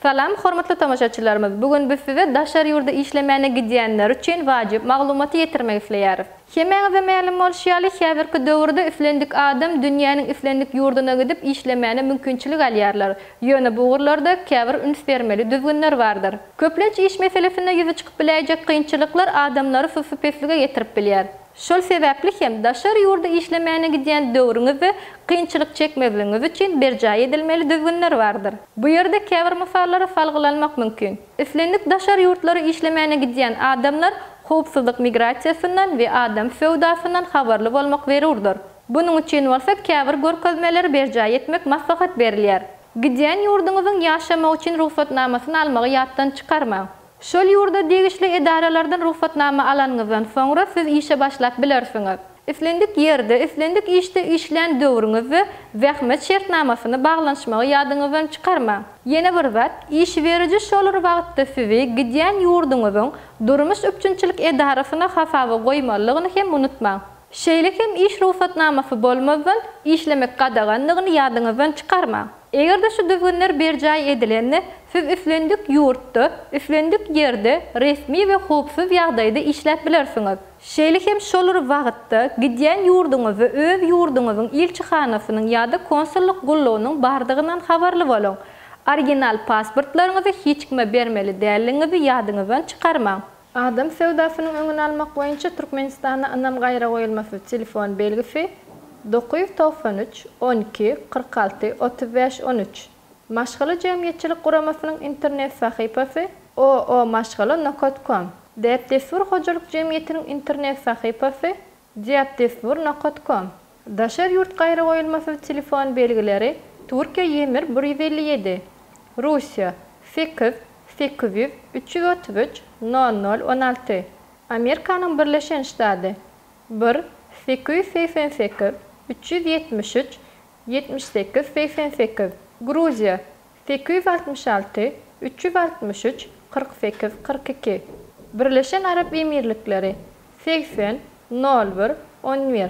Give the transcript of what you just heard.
Salam hormatly tomaşaçylarymyz bu gün biz size daşary ýurda işlemäne gidýänler üçin wajyp maglumaty ýetirmek isleýäris. Hemmäňize mälim bolşy ýaly häzirki döwürde islendik adam dünýäniň islendik ýurduna gidip işlemäne mümkinçilik alýarlar. Ýöne bu ugurlarda käbir üns bermeli düzgünler bardyr. Köplenç iş meselesinde ýüze çykyp biläýjek kynçylyklar adamlary sussupeslige getirip bilýär. Şol sebäpli hem daşary ýurda işlemäne gidýän döwrüňizde kynçylyk çekmezligiňiz üçin berjaý edilmeli düzgünler bardyr. Bu ýerde käbir mysallara salgylanmak mümkin. Islendik daşary ýurtlara işlemäne gidýän adamlar howpsuzlyk migrasiýasyndan we adam söwdasyndan habarly bolmak zerurdyr. Bunuň üçin bolsa käbir görkezmeleri berjaý etmek maslahat berilýär. Gidýän ýurduňyzyň ýaşamak üçin rugsatnamasyny almagy ýatdan çykarmaň. Şol ýurda degişli edaralardan rugsatnama alanyňyzdan soňra siz işe başlap bilersiňiz. Islendik ýerde, islendik işde işlän döwrüňizde zähmet şertnamasyny baglanyşmagy ýadyňyzdan çykarmaň. Ýene bir zat, iş beriji şolar wagtda sizi gidýän ýurduňyzyň durmuş üpjünçilik edarasyna hasaba goýmalydygyny hem unutmaň. Şeýle hem iş rugsatnamasy bolmazdan işlemek gadagandygyny ýadyňyzdan çykarmaň. Eger-de şu düzgünler berjaý edilende, siz islendik ýurtda, islendik ýerde resmi we howpsuz ýagdaýda işläp bilersiňiz. Şeýle hem şol bir wagtda gidýän ýurduňyzda öz ýurduňyzyň ilçihanasynyň ýa-da konsullyk gullugynyň bardygyndan habarly boluň. Original pasportlaryňyzy hiç kime bermeli däldigiňizi ýadyňyzdan çykarmaň. Adam söwdasynyň öňüni almak boýunça Türkmenistanda ynam gaýragoýulmasyz telefon belgisi, dokuz ýüz togsan üç, on iki, kyrk alty, otuz bäş, on üç, Maşgala jemgyýetçilik guramasynyň internet sahypasy, OO-maşgala nokat kom, Däp-dessur hojalyk jemgyýetiniň internet sahypasy, Diatdesbur nokat kom. Daşary ýurt gaýragoýulmasyz telefon belgileri Türkiýe Ýemir bir ýüz elli ýedi. Russiýa sekiz, sekiz ýüz, üç ýüz otuz üç, nol nol, on alty. Amerikanyň Birleşen Ştady bir, sekiz ýüz segsen sekiz, üç ýüz ýetmiş üç, ýetmiş sekiz, segsen sekiz. Gruziýa Sekiz ýüz altmyş alty, üç ýüz altmyş üç, kyrk sekiz, kyrk iki. Birleşen Arap Emirlikleri, segsen, nol bir, on bir.